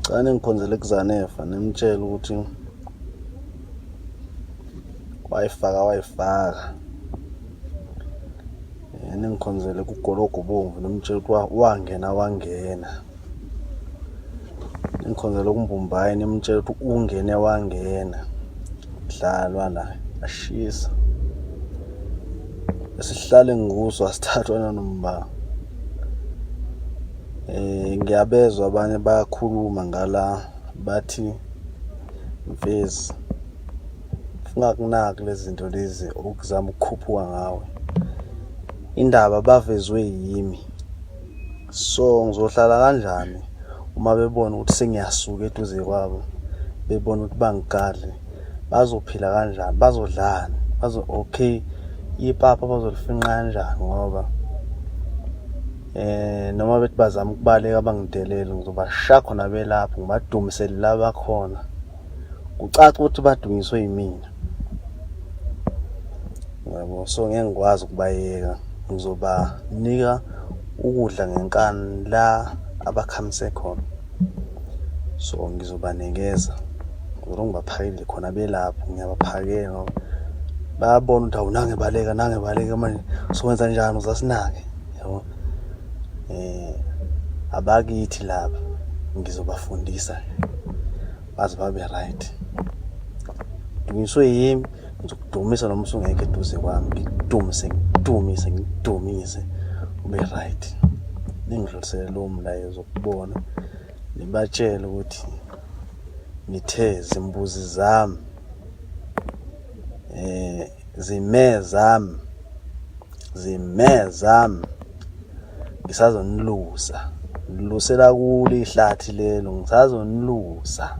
Cha ningiphonzele kuzanefa nimtshela ukuthi wayifaka wayifaka yena engikhonzele kugologo bomvu nomtshela ukuthi wangena wangena engikhonzele kumbumbayi nimtshela ukuthi ungene wangena dlalwa la ashisa esihlale nguso asithathwa nanombango Eh ngiyabezwa abanye bayakhuluma ngala bathi mfezi ungakunaki lezinto lezi okuzama ukukhuphuka ngawe indaba bavezwe yimi so ngizohlala kanjani uma bebona ukuthi sengiyasuka eduze kwabo bebona ukuthi bangigadle bazophila kanjani bazodlani bazo okay ipapa bazolifinqa kanjani ngoba eh noma bethi bazama ukubaleka bangidelele ngizobasha khona belapho ngibadumisele la bakhona kucaca ukuthi badunyiswe yimina yabo so ngeke ngikwazi ukubayeka ngizobanika ukudla ngenkani la abakhamise khona so ngizobanikeza ngizolo ngibaphakele khona belapho ngiyabaphakela ngoba bayabona ukuthi awunange baleka nange baleka manje sowenza njani uzasinake yabo eh abakithi laba ngizobafundisa baze babe right dunyiswe yimi ngizokudumisa noma usungekho eduze kwami ngidumise ngidumise ngidumise ube right ningidlulisele lowo mlayezo kubona nibatshele ukuthi ngithe zimbuzi zami eh Zime zam. Zime zam. Ngisazonilusa. Ngilusela kule ihlathi lelo. Ngisazonilusa.